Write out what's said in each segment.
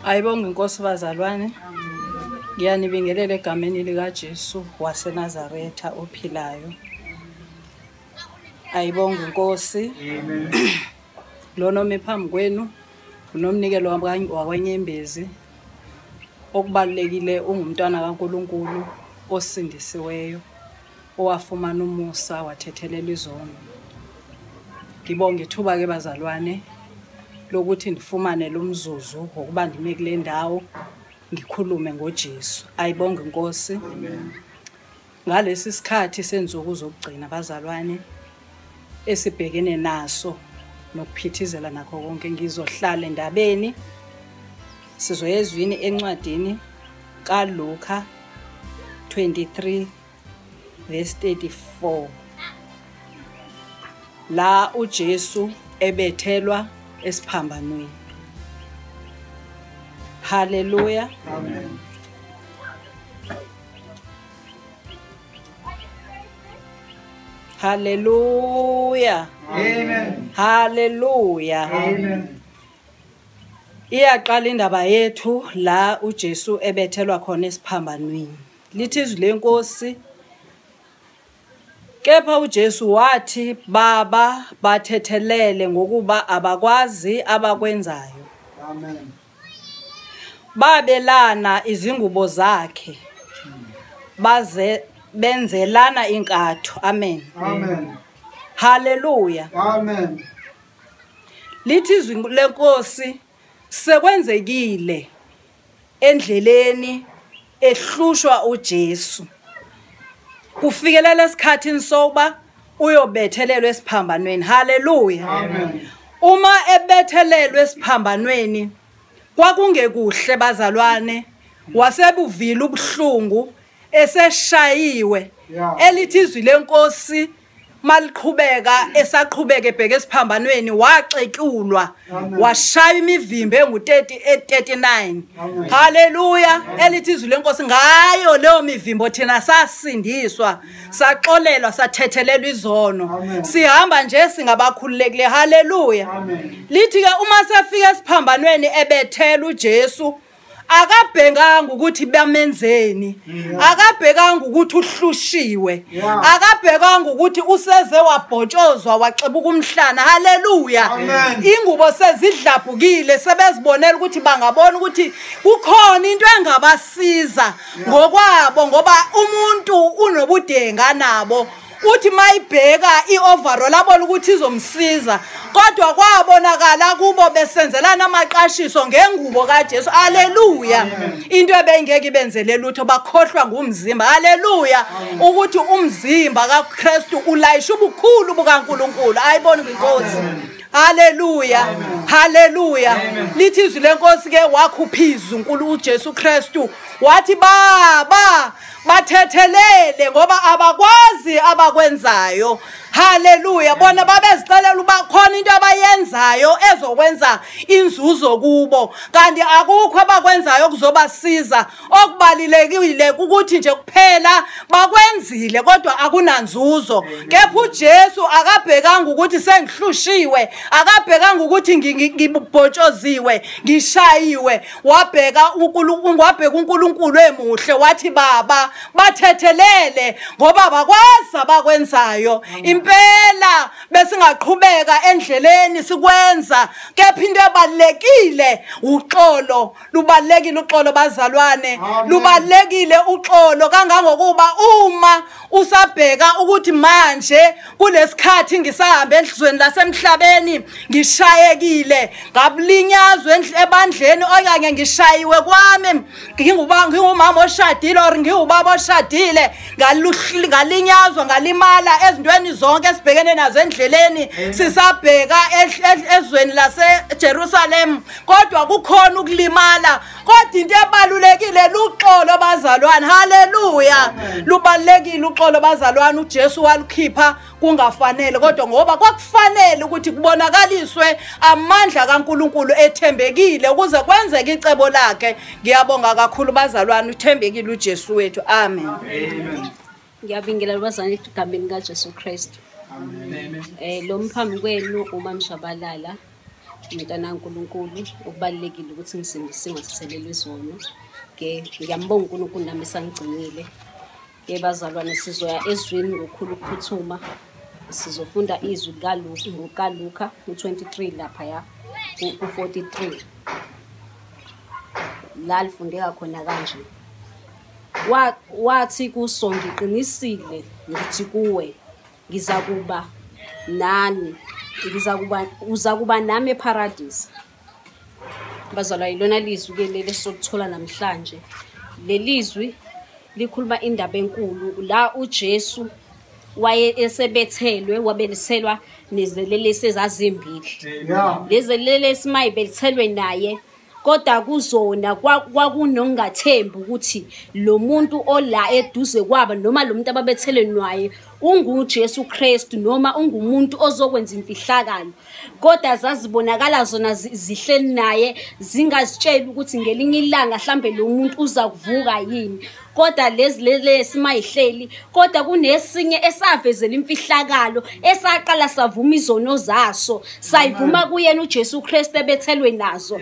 ayibonge inkosi bazalwane ngiyanibingelela egameni likajesu wasenazaretha ophilayo ayibonge inkosi lona omi phambi kwenu Unomnikelo wakwenyembezi okubalulekile ungumntwana kaNkulunkulu osindisiweyo owafumana umusa wathethelela izono. Ngibonge ithuba ke bazalwane lokuthi ndifumane lo mzuzu ngokuba ndime kule ndawo ngikhulume ngoJesu. Ayibonge inkosi. Ngalesi sikhathi senzuku zokugcina bazalwane esibhekene naso nokuphithizela nakho konke ngizohlala endabeni sizoyezwini encwadini kaLuka 23 verse 34 la uJesu ebethelwa esiphambanweni haleluya amen Hallelujah. Amen. Hallelujah. Amen. Iyaqala indaba yethu la uJesu ebethelwa khona esiphambanweni. Lithi izwi lenkosi Kepha uJesu wathi baba bathethelele ngokuba abakwazi abakwenzayo. Amen. babelana izingubo zakhe baze benzelana inkatho amen amen haleluya amen lithi izwi lenkosi sekwenzekile endleleni ehlushwa uJesu kufikelela esikhathini sokuba uyobethelelwa esiphambanweni haleluya uma ebethelelwa esiphambanweni kwakungekuhle bazalwane wasebuvile ubuhlungu eseshayiwe elithi izwi lenkosi maliqhubeka esaqhubeke ebheke esiphambanweni waxetshulwa washaya imivimbo engu-39 haleluya elithi izwi lenkosi ngayo leyo mivimbo thina sasindiswa saxolelwa sathethelelwa izono sihamba nje singabakhululekile haleluya lithi-ke uma sefika esiphambanweni ebethela ujesu akabhekanga ukuthi bamenzeni mm. akabhekanga ukuthi uhlushiwe akabhekanga ukuthi useze wabhotshozwa waxebuka umhlana haleluya ingubo sezidlabhukile sebezibonela ukuthi bangabona ukuthi kukhona into engabasiza ngokwabo ngoba umuntu unobudenga nabo uthi mayibheka i-overall abona ukuthi izomsiza kodwa kwabonakala kubo besenzelana amaqashiso ngengubo kaJesu haleluya into ebengeke ibenzele lutho bakhohlwa ngumzimba haleluya ukuthi umzimba kaKristu ulayisha ubukhulu bukaNkuluNkulu ayibona inkosi haleluya haleluya lithi izwi lenkosi ke wakhuphiza uNkulunkulu uJesu Kristu wathi baba bathethelele ngoba abakwazi abakwenzayo haleluya bona babezixelela uba khona into abayenzayo ezokwenza inzuzo kubo kanti akukho abakwenzayo okuzobasiza okubalulekile ukuthi nje kuphela bakwenzile kodwa akunanzuzo kepha ujesu akabhekanga ukuthi sengihlushiwe akabhekanga ukuthi ngibhotshoziwe ngishayiwe wabheka uNkulunkulu wabheka uNkulunkulu emuhle wathi baba bathethelele ngoba bakwazi abakwenzayo impela besingaqhubeka endleleni sikwenza kepha into ebalekile uxolo lubalekile uxolo bazalwane lubalekile uxolo kangangokuba uma usabheka ukuthi manje kulesikhathi ngisahambe enhlizweni lasemhlabeni ngishayekile ngabulinyazwe ebandleni okanye ngishayiwe kwami ngingubanga ngingumama oshadile or ngiwubaba oshadile ngalinyazwa ngalimala ezintweni zonke esibhekene nazo endleleni sisabheka ezweni laseJerusalem kodwa kukhona ukulimala kodwa into ebalulekile luxolo bazalwane haleluya lubalulekile uxolo bazalwane uJesu walukhipha kungafanele kodwa ngoba kwakufanele ukuthi kubonakaliswe amandla kaNkuluNkulu ethembekile ukuze kwenzeke icebo lakhe ngiyabonga kakhulu bazalwane uthembekile uJesu wethu amen, amen. ngiyabingelela lubazane egameni kajesu kristu um eh, lo mphambi kwenu umamshabalala umntana kankulunkulu okubalulekile ukuthi ngisindise ngathathelelwa izono ke ngiyambonga unkulunkulu nami esangigcinile ke bazalwane sizoya ezwini ngokukhulu ukuphuthuma sizofunda izwi likaluka u-23 lapha ya u-43 la lifundeka khona kanje wathi kuso ngiqinisile ngithi kuwe ngiza kuba nani ngiza kuba uza kuba nami epharadisa bazalwa yilona lizwi ke leli esokuthola namhlanje lelizwi likhuluma indaba enkulu la uJesu waye esebethelwe wabeliselwa nezelelesi ezazimbili lezelelesi mayibelithelwe naye kodwa kuzona kwakunongathembi ukuthi lo muntu ola eduze kwaba noma lo muntu ababethelenwaye unguJesu Kristu noma ungumuntu ozokwenza imfihlakalo kodwa zazibonakala zona zihleli naye zingazitsheli ukuthi ngelinye ilanga mhlambe lo muntu uza kuvuka yini kodwa lezi lelesi mayihleli kodwa kunesinye esavezela imfihlakalo esaqala savuma izono zaso sayivuma kuyena uJesu Kristu ebethelwe nazo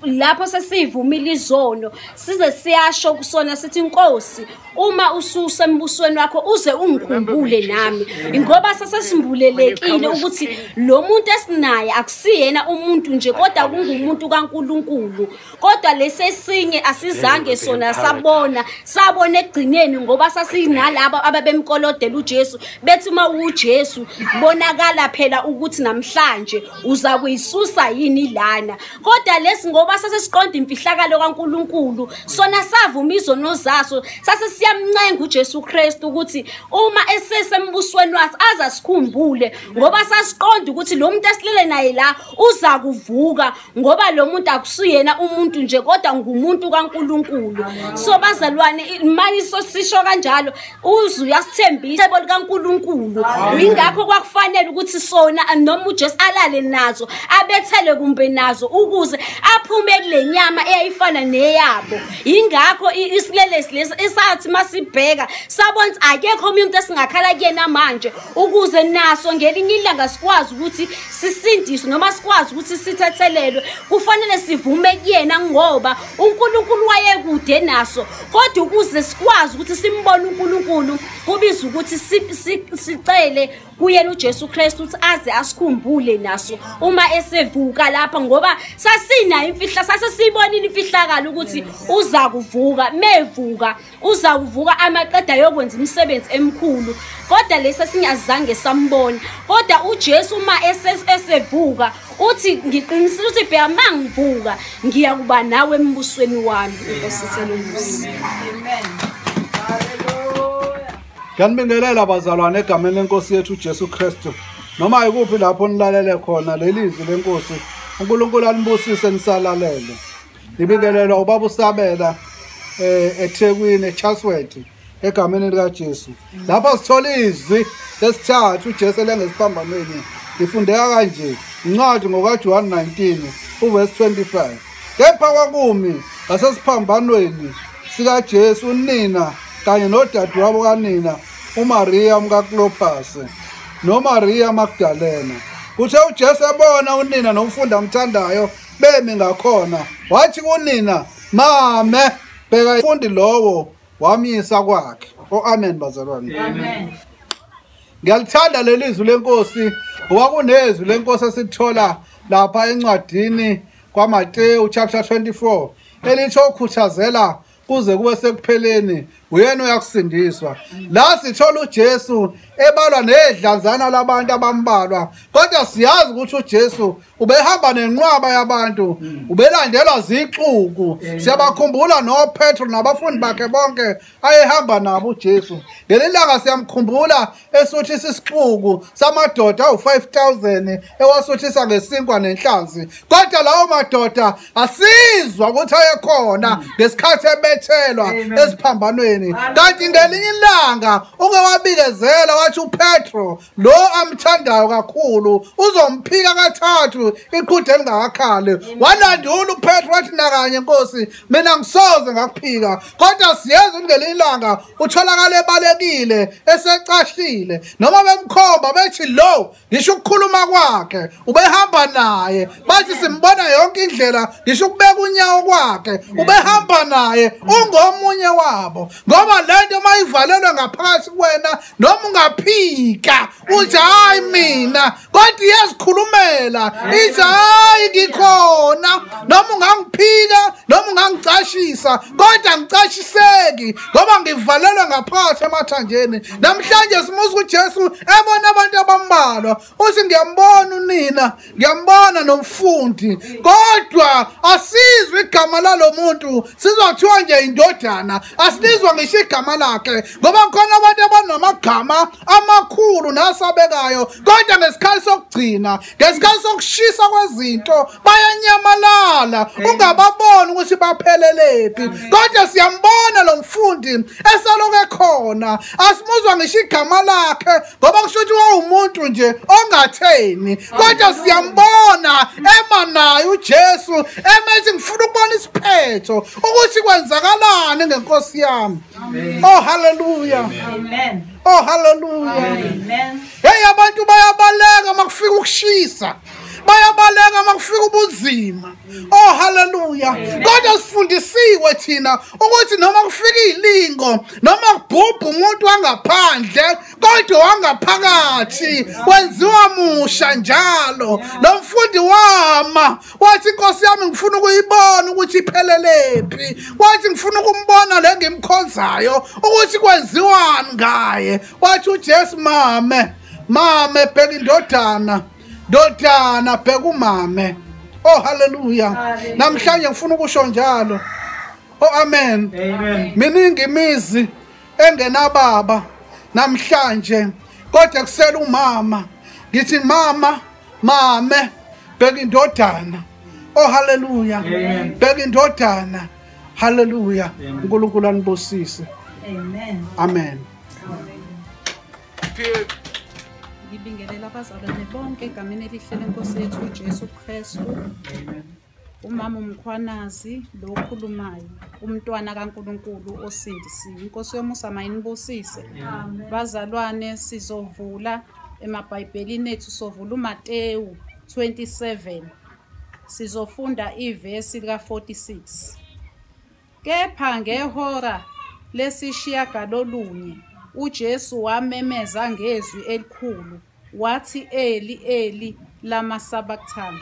lapho sesivumile izono size siyasho kusona sithi inkosi uma ususe embusweni wakho uze ungikhumbule nami ngoba sesesimbulelekile ukuthi lo muntu esinaye akusiyena umuntu nje kodwa kungumuntu kaNkuluNkulu kodwa lesesinye asizange sona sabona sabona ekugcineni ngoba sasinalabo ababemkolodela uJesu bethi uma uJesu bonakala phela ukuthi namhlanje uza kuyisusa yini lana kodwa lesi ngoba sasesiqonda imfihlakalo kaNkuluNkulu sona savuma izono zaso sase siyamncenga uJesu Kristu ukuthi uma esesembusweni wathi azasikhumbule ngoba sasiqonda ukuthi lo muntu esilele naye la uza kuvuka ngoba lo muntu akusuyena umuntu nje kodwa ngumuntu kaNkuluNkulu so bazalwane manje sosisho kanjalo uzu uyasithembisa ebo likaNkuluNkulu ingakho kwakufanele ukuthi sona noma uJesu alale nazo abethele kumbe nazo ukuze aphume kulenyama eyayifana neyabo ingakho isilelesi lesi esathi masibheka sabona akekho umuntu esingakhala kuyena manje ukuze naso ngelinye ilanga sikwazi ukuthi sisindiswe noma sikwazi ukuthi sithethelelwe kufanele sivume kuyena ngoba uNkulunkulu wayekude naso kodwa ukuze sikwazi ukuthi simbone uNkulunkulu kubiza ukuthi sicele kuyena uJesu Kristu ukuthi aze asikhumbule naso uma esevuka lapha ngoba sasinayo imfihla sase siyibonile imfihlakalo ukuthi uza kuvuka mevuka uza kuvuka amaqeda yokwenza imisebenzi emikhulu kodwa lesi singazange sambona kodwa uJesu uma esevuka uthi ngiqinisile uthi bheka uma ngivuka ngiya kuba nawe embusweni wami inkosi selumusi Ngiyanibingelela bazalwane egameni lenkosi yethu uJesu Kristu noma ikuphi lapho nilalele khona lelizwi lenkosi uNkulunkulu anibusise nisalalele Ngibingelela ubaba uSabela eh eThekwini eChasworth egameni lika Jesu. Lapha sithola izwi lesithathu uJesu lengesiphambanweni. Ngifundeka kanje incwadi ngoka Juan 19 uverse 25. Kepha kwakumi ngasesiphambanweni sika Jesu unina kanye nodadewabo kanina uMaria umkaKlopas noMaria Magdalena. Kuthe uJesu ebona unina nomfundi amthandayo bemi ngakhona wathi kunina mame bheka ifundi lowo wamyisa kwakhe o-amen bazalwane ngiyalithanda leli zwi lenkosi ngoba kunezwi lenkosi esithola lapha encwadini kwamatewu chapter 24 elitsho ukhuthazela kuze kube sekupheleni uyena uyakusindiswa la sithola uJesu ebalwa nedlanzana labantu abambalwa kodwa siyazi ukuthi uJesu ubehamba nenqwaba yabantu ubelandelwa zixuku siyabakhumbula noPetro nabafundi bakhe bonke ayehamba nabo uJesu ngelilanga siyamkhumbula esuthisa isixuku samadoda awu-5000 ewasuthisa ngesinkwa nenhlanzi kodwa lawo madoda asizwa ukuthi ayekhona ngesikhathi ebethelwa esiphambanweni kanti ngelinye ilanga uke wabikezela wathi upetro lo amthandayo kakhulu uzomphika kathathu iqhude elingakakhali walandula upetro wathi nakanye nkosi mina ngisoze ngakuphika kodwa siyeza ukuthi ngelinye ilanga utholakala ebalekile esecashile noma bemkhomba bethi lo ngisho ukukhuluma kwakhe ubehamba naye bathi simbona yonke indlela ngisho ukubeka unyawo kwakhe ubehamba naye ungomunye wabo ngoba lento mayivalelwe ngaphakathi kwena noma ungaphika uthi hayi mina kodwa iyazikhulumela ithi hayi ngikhona noma ungangiphika noma ungangicashisa kodwa ngicashiseki ngoba ngivalelwe ngaphansi emathanjeni namhlanje simusa ujesu ebona abantu abambalwa uthi ngiyambona unina ngiyambona nomfundi kodwa asizwe igama lalo muntu sizwa kuthiwa nje indodana asilizwa ngisho igama lakhe ngoba khona abantu abanamagama amakhulu nasabekayo kodwa ngesikhathi sokugcina ngesikhathi sokushisa kwezinto bayanyamalala ungababoni ukuthi baphelelephi kodwa siyambona lo mfundi eseloku ekhona asimuzwa ngisho igama lakhe ngoba kusho ukuthi wawumuntu nje ongatheni kodwa siyambona ema naye uJesu emethi ngifuna ukubona isiphetho ukuthi kwenzakalani ngenkosi yami oh haleluya amen oh haleluya amen hey abantu bayabaleka makufika ukushisa bayabaleka uma kufika ubunzima oh haleluya kodwa sifundisiwe thina ukuthi noma kufika ilingo noma kubhubha umuntu wangaphandle kodwa wangaphakathi wenziwa musha njalo lo mfundi wama wathi inkosi yami ngifuna ukuyibona ukuthi iphelelephi wathi ngifuna ukumbona le ngimkhonzayo ukuthi kwenziwani ngaye wathi ujesu mame mame bheka indodana ndodana bheka umame oh haleluya namhlanje ngifuna ukusho njalo oh amen miningi imizi engenababa namhlanje kodwa kusela umama ngithi mama mame bheka indodana oh haleluya bheka indodana haleluya unkulunkulu anibusise amen, amen. ngibingelela abazalwane bonke egameni elihle lenkosi yethu ujesu kristu umama umkhwanazi lo okhulumayo umntwana kankulunkulu osindisiwe inkosi yomusa mayinibusise bazalwane sizovula emabhayibhelini ethu sovula umatewu 27 sizofunda ivesi lika-46 Kepha ngehora lesishiyagalolunye uJesu wamemeza ngezwi elikhulu wathi Eli Eli lama sabachthani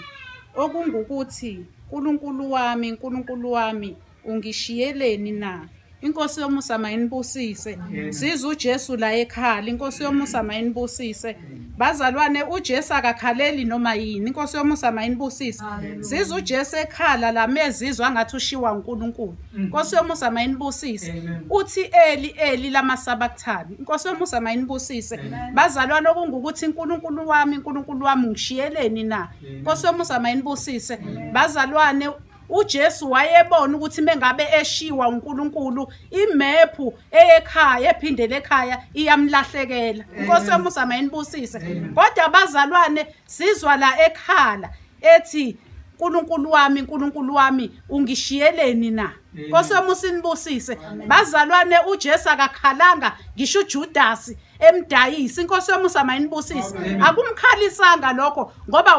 okungukuthi Nkulunkulu wami Nkulunkulu wami ungishiyeleni na inkosi yomusa mayinibusise siza uJesu la ekhala inkosi yomusa mayinibusise bazalwane uJesu akakhaleli noma yini inkosi yomusa mayinibusise sizwe uJesu ekhala lamezizwa ngathi ushiwa uNkulunkulu mm. inkosi yomusa mayinibusise uthi eli eli lamasabakuthani inkosi yomusa mayinibusise bazalwane okungukuthi uNkulunkulu wami uNkulunkulu wami ngishiyeleni na inkosi yomusa mayinibusise bazalwane uJesu wayebona ukuthi mengabe eshiwa uNkulunkulu imephu eyekhaya ephindele ekhaya iyamlahlekela inkosi yomusa mayinibusise kodwa abazalwane sizwa la ekhala ethi uNkulunkulu wami uNkulunkulu wami ungishiyeleni na Nkosi wami usinibusise bazalwane uJesu akakhalanga ngisho uJudasi emdayisi inkosi yomusa mayinibusise akumkhalisanga lokho ngoba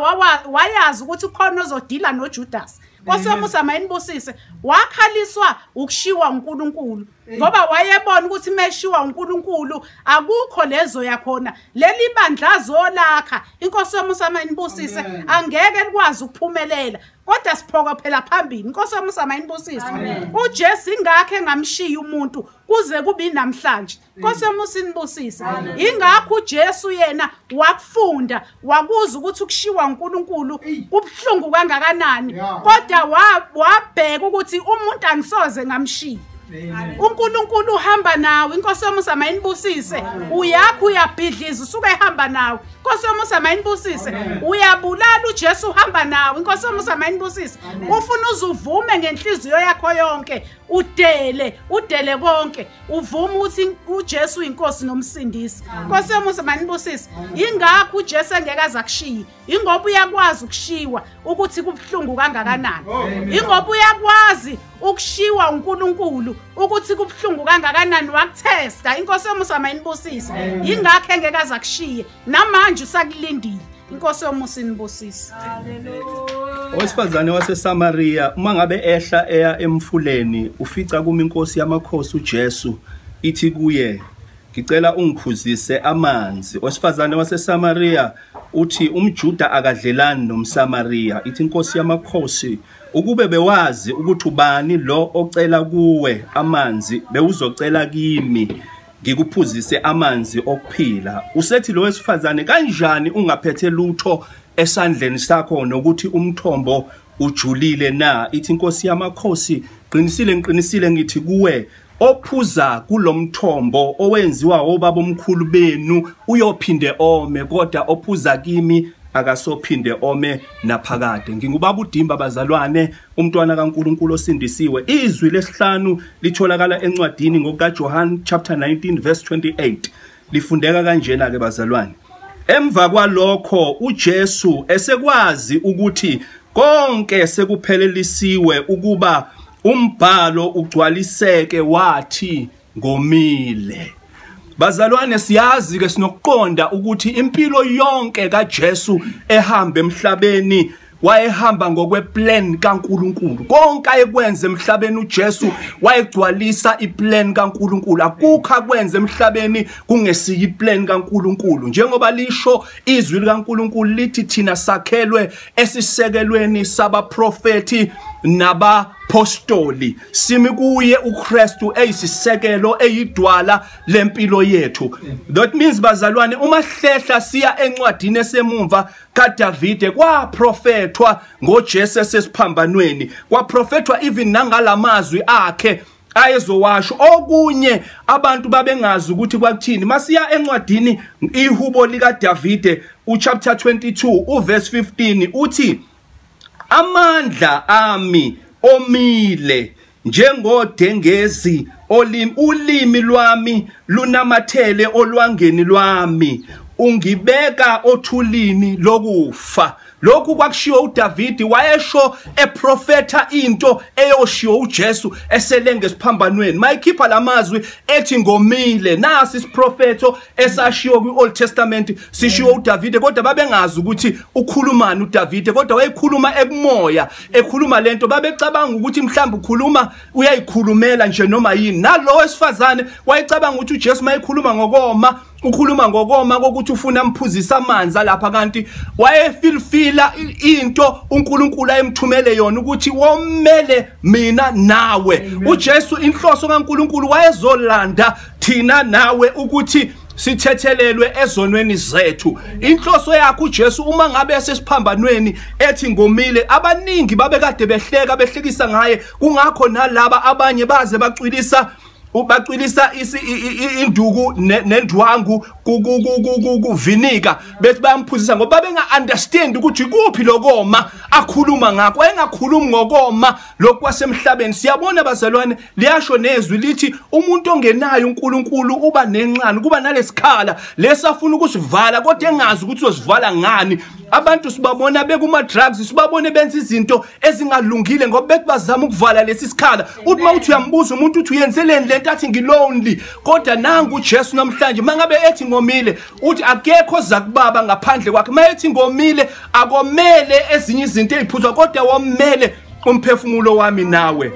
wayazi ukuthi khona ozodila noJudas Nkosi yomusa mayinibusise wakhaliswa ukushiwa uNkulunkulu ngoba wayebona ukuthi meshiwa uNkulunkulu akukho lezo yakhona leli bandla zolakha inkosi yomusa mayinibusise angeke likwazi ukuphumelela kodwa siphoka phela phambili inkosi yomusa mayinibusise uJesu ingakhe ngamshiya umuntu kuze kubi namhlanje Nkosi yami usinibusise. Ingakho uJesu yena wakufunda, wakuza ukuthi ukushiwa uNkulunkulu kubhlungu kangakanani. Kodwa wabheka ukuthi umuntu angisoze ngamshiya. uNkulunkulu uhamba nawe inkosi yomusa mayinibusise uyakho uyabhidliza usuke ehamba nawe inkosi yomusa mayinibusise uyabulala uJesu uhamba nawe inkosi yomusa mayinibusise ufuna uzuvume ngenhliziyo yakho yonke udele udele konke uvuma ukuthi uJesu uyinkosi nomsindisi Nkosi yomusa manibusise ingakho uJesu engeke azakushiye ingoba uyakwazi ukushiwa ukuthi kubhlungu kangakanani ingoba uyakwazi ukushiwa uNkulunkulu ukuthi kubhlungu kangakanani wakuthesta inkosi yomusa mayinibusise ingakho engeke azakushiye namanje usakulindile inkosi yomusa inibusise owesifazane wasesamariya uma ngabe ehla eya emfuleni ufica kuma inkosi yamakhosi ujesu ithi kuye ngicela ungiphuzise amanzi owesifazane wasesamariya uthi umjuda akadlelani nomsamariya ithi inkosi yamakhosi ukube bewazi ukuthi ubani lo ocela kuwe amanzi bewuzocela kimi ngikuphuzise amanzi okuphila usethi lo wesifazane kanjani ungaphethe lutho esandleni sakho nokuthi umthombo ujulile na ithi inkosi yamakhosi qinisile ngiqinisile ngithi kuwe ophuza kulomthombo owenziwa obaba omkhulu benu uyophinde ome kodwa ophuza kimi akasophinde ome naphakade ngingubaba udimba bazalwane umntwana kaNkuluNkulu osindisiwe izwi lesihlanu litholakala encwadini ngokaJohn chapter 19 verse 28 lifundeka kanjena ke bazalwane emva kwalokho uJesu esekwazi ukuthi konke sekuphelelisiwe ukuba umbhalo ugcwaliseke wathi ngomile Bazalwane siyazi ke sinokuqonda ukuthi impilo yonke kaJesu ehamba emhlabeni wayehamba ngokweplan kaNkuluNkulu konke ayekwenza emhlabeni uJesu wayegcwalisa iplan kaNkuluNkulu akukho akwenza emhlabeni kungesiyi iplan kaNkuluNkulu njengoba lisho izwi likaNkuluNkulu lithi thina sakhelwe esisekelweni sabaprofeti nabapostoli simi kuye uKristu eyisisekelo eyidwala lempilo yethu that means bazalwane uma hlehla siya encwadini esemumva kaDavide kwaprofethwa ngoJesu esesiphambanweni kwaprofethwa even nangalamazwi akhe ayezowasho okunye abantu babengazi ukuthi kwakuthini masiya encwadini ihubo likaDavide uchapter 22 uverse 15 uthi Amandla ami omile njengodengezi olimi ulimi lwami lunamathele olwangeni lwami ungibeka othulini lokufa lokhu kwakushiwo uDavidi wayesho eprofetha into eyoshiwo uJesu eselenge esiphambanweni mayikhipha lamazwi ethi ngomile nasi isiprofetho esashiwo kwi-old testament sishiwo udavide kodwa babengazi ukuthi ukhulumani udavide kodwa wayekhuluma ekumoya ekhuluma lento babecabanga ukuthi mhlawumbe ukhuluma uyayikhulumela nje noma yini nalowo wesifazane wayecabanga ukuthi ujesu uma ekhuluma ngokoma ukhuluma ngokoma kokuthi ufuna amphuzisa amanzi alapha kanti wayefilfila into uNkulunkulu ayemthumele yona ukuthi womele mina nawe uJesu inhloso kaNkulunkulu wayezolanda thina nawe ukuthi sithethelelwe ezonweni zethu inhloso yakhe uJesu uma ngabe esesiphambanweni ethi ngomile abaningi babekade behleka behlekisa ngaye kungakho nalaba abanye baze bacwilisa ubacwilisa induku nendwangu kuvinika bethi bayamphuzisa ngoba benga-understand ukuthi kuphi lokoma akhuluma ngakho engakhulumi ngokoma lokhu kwasemhlabeni siyabona bazalwane liyasho nezwi lithi umuntu ongenayo uNkulunkulu uba nenxani kuba nalesikhala lesafuna ukusivala kodwa engazi ukuthi uzosivala ngani abantu sibabona bekuma drugs sibabone benza izinto ezingalungile ngoba bethi bazama ukuvala lesi sikhala uthi uma uthi uyambuza umuntu uthi uyenzeleni lento athi ngilonely kodwa nangu uJesu namhlanje mangabe ethi ngomile uthi akekho zakubaba ngaphandle kwakhe mayethi ngomile akomele ezinye izinto eziphuzwa kodwa womele umphefumulo wami nawe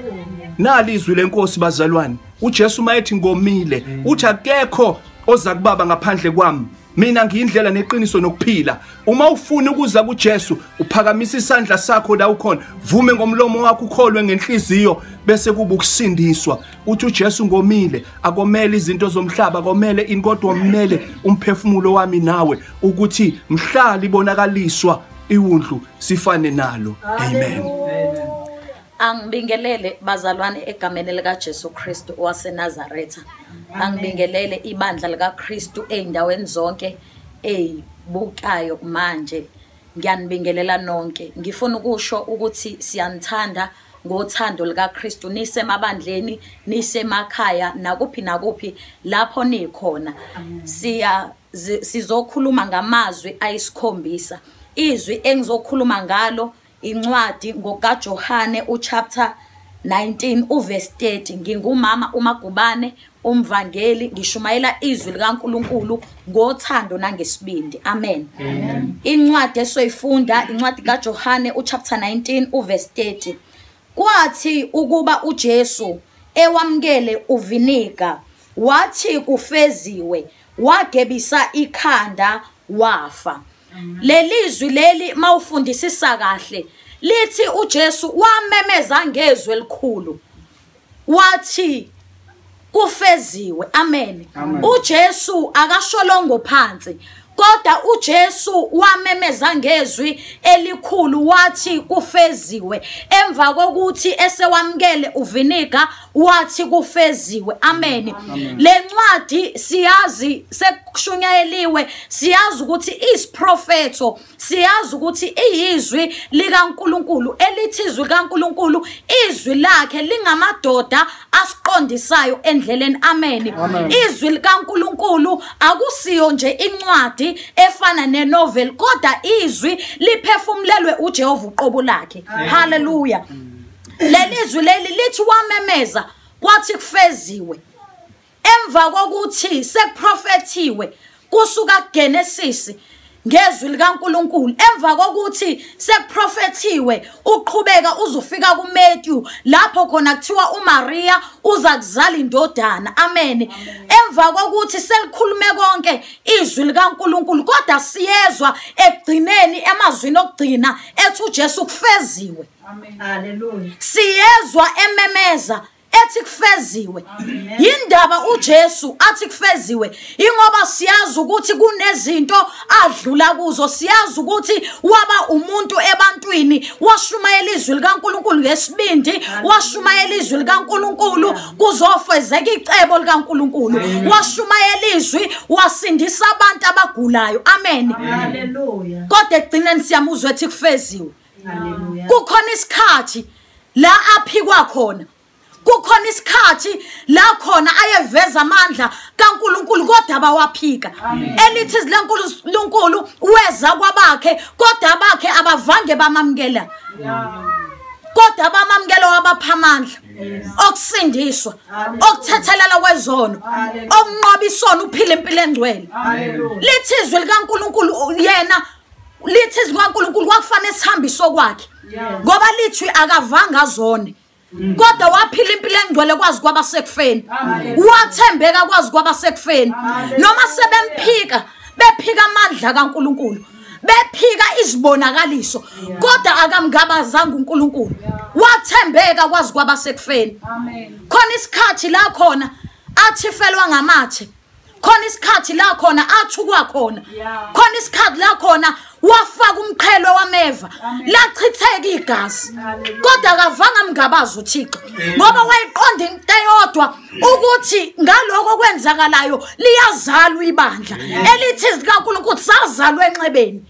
nali izwi lenkosi bazalwane uJesu mayethi ngomile uthi akekho oza kubaba ngaphandle kwami mina ngiyindlela neqiniso nokuphila uma ufuna ukuza kuJesu uphakamisa isandla sakho la ukhona vume ngomlomo wakho ukholwe ngenhliziyo bese kuba ukusindiswa uthi uJesu ngomile akomele izinto zomhlaba komele inkodwa omele umphefumulo wami nawe ukuthi mhlali bonakaliswa iwundlu sifane nalo amen angibingelele bazalwane egameni likaJesu Kristu waseNazaretha angibingelele ibandla likaKristu ezindaweni zonke ezibukayo manje ngiyanibingelela nonke ngifuna ukusho ukuthi siyanithanda ngothando likaKristu nisemabandleni nisemakhaya nakuphi nakuphi lapho nikhona siya sizokhuluma ngamazwi ayisikhombisa izwi engizokhuluma ngalo incwadi ngokaJohane uchapter 19 uverse 30 ngingumama umagubane umvangeli ngishumayela izwi likaNkuluNkulu ngothando nangesibindi amen, amen. incwadi esoyifunda incwadi kaJohane uchapter 19 uverse 30 kwathi ukuba uJesu ewamkele uviniga wathi kufeziwe wagebisa ikhanda wafa lelizwi leli mawufundisisa kahle lithi uJesu wamemeza ngezwi elikhulu wathi kufeziwe amen uJesu akasholongo phansi kodwa uJesu wamemeza ngezwi elikhulu wathi kufeziwe emva kokuthi esewamkele uviniga wathi kufeziwe amen lencwadi siyazi sekushunyayeliwe siyazi ukuthi isiprofetho siyazi ukuthi iyizwi likaNkuluNkulu elithi izwi likaNkuluNkulu izwi lakhe lingamadoda asiqondisayo endleleni amen izwi likaNkuluNkulu akusiyo nje incwadi efana nenovel kodwa izwi liphefumulelwe uJehova uqobo lakhe haleluya mm. lelizwi leli lithi wamemeza kwathi kufeziwe emva kokuthi sekuprofethiwe kusuka kuGenesis ngezwi likaNkuluNkulu emva kokuthi sekuprofethiwe uqhubeka uzofika kuMatthew lapho khona kuthiwa uMaria uza kuzala indodana amen emva kokuthi selikhulume konke izwi likaNkuluNkulu kodwa siyezwa ekugcineni emazwini okugcina ethi uJesu kufeziwe siyezwa ememeza ethi kufeziwe yindaba uJesu athi kufeziwe ingoba siyazi ukuthi kunezinto adlula kuzo siyazi ukuthi waba umuntu ebantwini washumayela izwi likaNkuluNkulu ngesibindi washumayela izwi likaNkuluNkulu kuzofezeka icebo likaNkuluNkulu washumayela izwi wasindisa abantu abagulayo amen haleluya kodwa ekugcineni siyamuzwa ethi kufeziwe kukhona isikhathi la aphikwa khona kukhona isikhathi la khona ayeveza amandla kaNkuluNkulu kodwa bawaphika elithi lenkulu lonkulu weza kwabakhe kodwa abakhe abavange bamamkela kodwa abamamkelo wabapha amandla okusindiswa okuthethelela kwezono okunqoba isono uphila impilo engcwele lithi izwi likaNkuluNkulu yena lithi izwi kaNkulunkulu kwakufanele sihambise okwakhe ngoba lithi akavanga zone mm. kodwa waphila impilo engcwele kwazi kwaba sekufeni wathembeka kwazi kwaba sekufeni noma sebemphika bephika amandla kaNkulunkulu bephika izibonakaliso kodwa akamngabazanga uNkulunkulu wathembeka kwazi kwaba sekufeni khona isikhathi la khona athifelwa ngamathe khona isikhathi la khona athukwa khona khona isikhathi la khona wafaka umqhelo wameva lachitheka igazi kodwa akavanga mngabazi uthixo ngoba wayiqonda into eyodwa ukuthi ngaloko okwenzakalayo liyazalwa ibandla elithi zikankulunkulu sazalwa enxebeni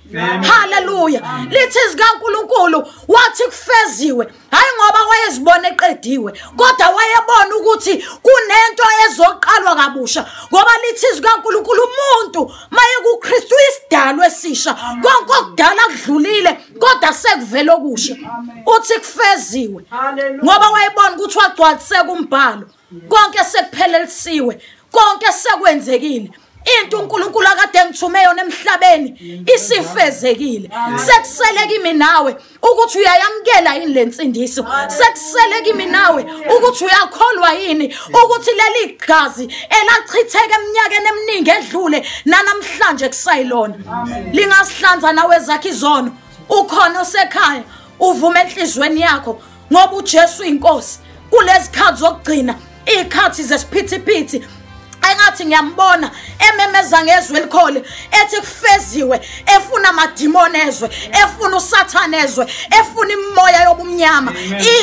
haleluya lithi zikankulunkulu wathi kufeziwe hayi ngoba wayezibona eqediwe kodwa wayebona ukuthi kunento ezoqalwa kabusha ngoba lithi izwi kankulunkulu umuntu maye kukristu isidalo esisha konke okudala kudlulile kodwa sekuvele okusha uthi kufeziwe ngoba wayebona ukuthi wagcwaliseka umbhalo konke sekuphelelisiwe konke sekwenzekile into uNkulunkulu akade engithume yona emhlabeni isifezekile sekusele kimi nawe ukuthi uyayamkela yini lensindiso sekusele kimi nawe ukuthi uyakholwa yini ukuthi leli gazi elachitheke eminyakeni eminingi edlule nanamhlanje kusayilona lingasihlanza nawe zakhe izono ukhona osekhaya uvume enhlizweni yakho ngoba uJesu inkosi kulezikhathi zokugcina izikhathi zesiphithiphithi engathi ngiyambona ememeza ngezwe elikhole ethi kufeziwe efuna amadimoni ezwe efuna usathane ezwe efuna imimoya yobumnyama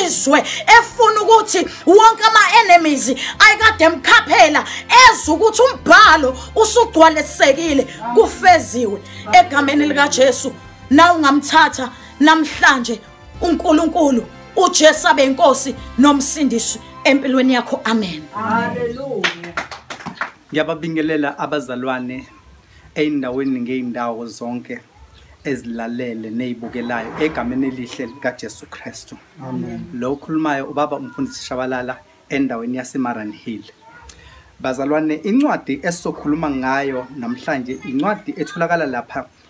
izwe efuna ukuthi wonke ama-enemies ayikade emkhaphela ezwe ukuthi umbhalo usugcwalisekile kufeziwe egameni likajesu na ungamthatha namhlanje uNkulunkulu uJesu abe inkosi nomsindisi empilweni yakho amen haleluya ngiyababingelela abazalwane eyindaweni ngeyindawo zonke ezilalele neyibukelayo egameni elihle likaJesu Kristu amen lo ukhulumayo ubaba umfundisi Shabalala endaweni yaseMaran Hill bazalwane incwadi esizokhuluma ngayo namhlanje incwadi etholakala lapha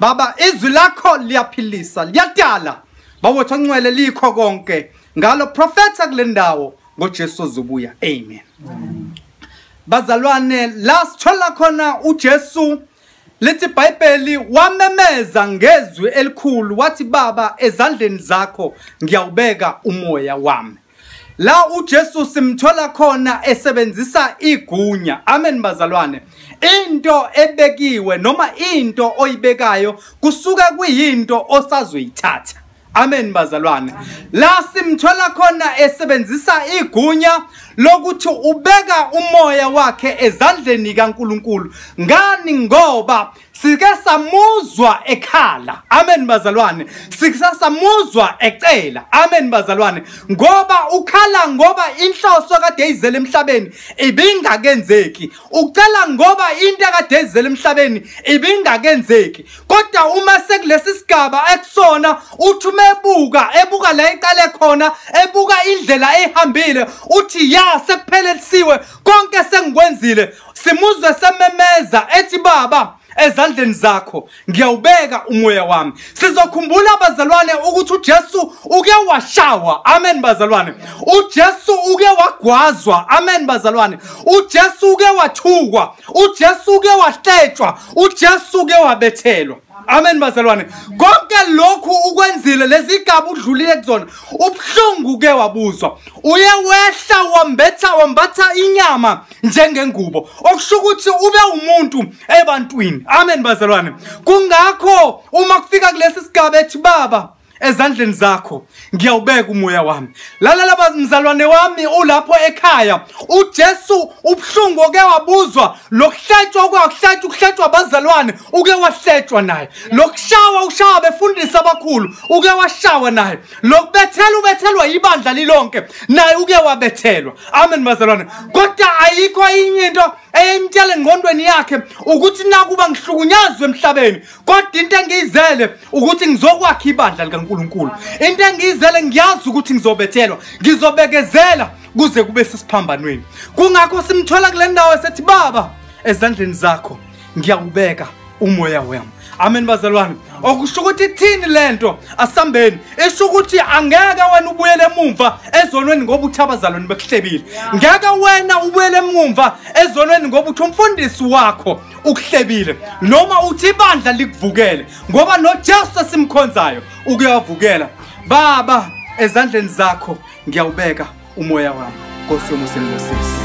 Baba izwi lakho liyaphilisa liyadala bawethu oncwele likho konke ngalo profeta kulendawo ngoJesu ozobuya amen bazalwane la sithola khona uJesu lithi iBhayibheli wamemeza ngezwi elikhulu wathi baba ezandleni zakho ngiyawubeka umoya wami la uJesu simthola khona esebenzisa igunya amen bazalwane into ebekiwe noma into oyibekayo kusuke kuyinto osazoyithatha amen bazalwane la simthola khona esebenzisa igunya lokuthi ubeka umoya wakhe ezandleni kaNkuluNkulu ngani ngoba sike samuzwa ekhala amen bazalwane sike samuzwa ecela amen bazalwane ngoba ukhala ngoba inhloso kade izele emhlabeni ibingakenzeki ucela ngoba into kade izele emhlabeni ibingakenzeki kodwa uma sekulesi sigaba ekusona uthi uma ebuka ebuka la iqale khona ebuka indlela ehambile uthi ya sekuphelelisiwe konke sengikwenzile simuzwe sememeza ethi baba ezandleni zakho ngiyawubeka umoya wami sizokhumbula abazalwane ukuthi uJesu uke washawa amen bazalwane uJesu uke wagwazwa amen bazalwane uJesu uke wathukwa uJesu uke wahletshwa uJesu uke wabethelwa amen bazalwane konke lokhu ukwenzile lezigaba udlulile kuzona ubuhlungu ke wabuzwa uye wehla wambetha wambatha inyama njengengubo okusho ukuthi ube umuntu ebantwini amen bazalwane kungakho uma kufika kulesi sigaba ethi baba ezandleni zakho ngiyawubeka umoya wami lalala bazimzalwane wami ulapho ekhaya uJesu ubuhlungu oke wabuzwa lokuhletshwa okwakuhletshwa ukuhletshwa abazalwane uke wahletshwa naye lokushawa ushawa befundisa abakhulu uke washawa naye lokubethela ubethelwa ibandla lilonke naye uke wabethelwa amen bazalwane kodwa ayikho inye into eyimtshela engqondweni yakhe ukuthi nakuba ngihlukunyazwe emhlabeni kodwa into engiyizele ukuthi ngizokwakha ibandla likaNkuluNkulu into engiyizele ngiyazi ukuthi ngizobethelwa ngizobekezela kuze kube sisiphambanweni kungakho simthola kule ndawo esethi baba ezandleni zakho ngiyakubeka umoya wami amen bazalwane okusho ukuthi ithini le nto asambeni isho ukuthi angeke wena ubuyele emumva ezonweni ngoba uthi abazalwane bekuhlebile ngeke wena ubuyele emumva ezonweni ngoba uthi umfundisi wakho ukuhlebile noma uthi ibandla likuvukele ngoba noJesu esimkhonzayo ukuyavukela baba ezandleni zakho ngiyawubeka umoya wami Nkosi yomusa engibusisi